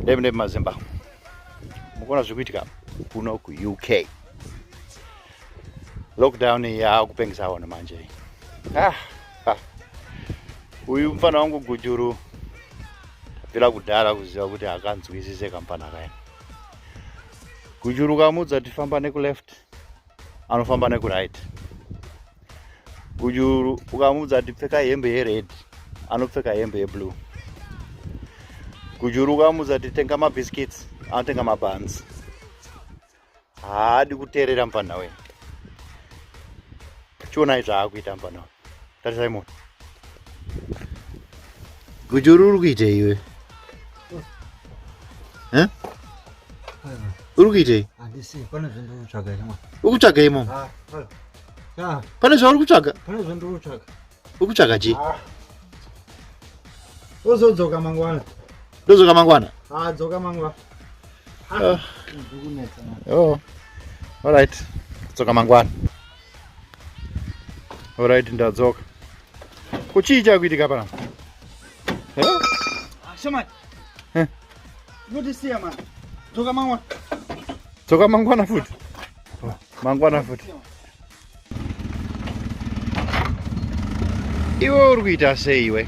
Ndebe ndebe mazimba. Mukona zvikuitika kuno ku UK. Lockdown ya kupengisa wana manje. Ah. ah. Uyu mfana wangu gujuru bila kudara kuziva kuti akanzwisise kampana kaini. Gujuru kamudza tifamba neku left. anofamba nekuright gujuru ukamuudza kuti pfeka hembe yered anopfeka hembe yeblue gujuru ukamuudza kuti tenga mabhiskits anotenga mabhanzi haadi kuteerera mfanha wee chionai zvaakuita mfanha wee tarisai moto gujuru uri kuitei iwe uri kuitei ukutsvaga imomo pane zvauri kutsvaga ukutsvaga chii uzodzoka mangwana ndodzoka mangwana ah, dzoka mangwana ah. oh. all right dzoka mangwana Alright, ndadzoka. Kuchii chakuitika pano? Eh? Ah, Shamani. Eh. Unotisiya mani. Dzoka mangwana. Dzoka mangwana futi. Oh, mangwana futi. Iwe uri kuita sei iwe?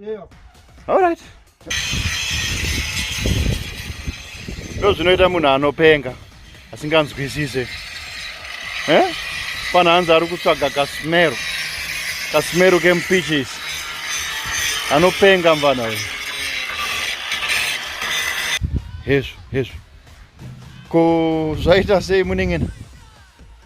Yeah. All right. Ndo zvinoita munhu anopenga asinganzwisise eh? Pana hanzi ari kutsvaga kasmero kasmero kemupichisi anopenga mvana uyu hezvo hezvo ko zvaita sei munengena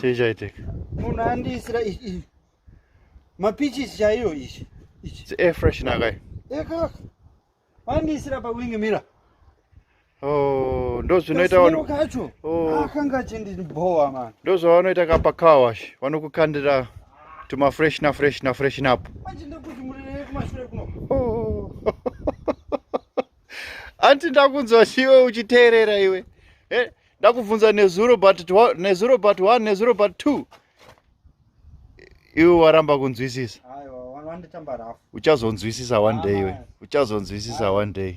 chii chaitika munhu andiisira mapichisi chaiyo ichi ichi air fresh nakai ekaka andiisira pawing mira oh, ndozvinoita kacho oh. akanga achindibhowa mani ndozvavanoita kapa car wash vanokukandira tuma fresh na fresh na fresh napo manje ndekuti murirei kumashure kuno oh. anti ndakunzwa chiwe uchiteerera iwe eh? ndakubvunza nezuro but nezuro but one nezuro but two iwe waramba kunzwisisa uchazonzwisisa one day iwe uchazonzwisisa one day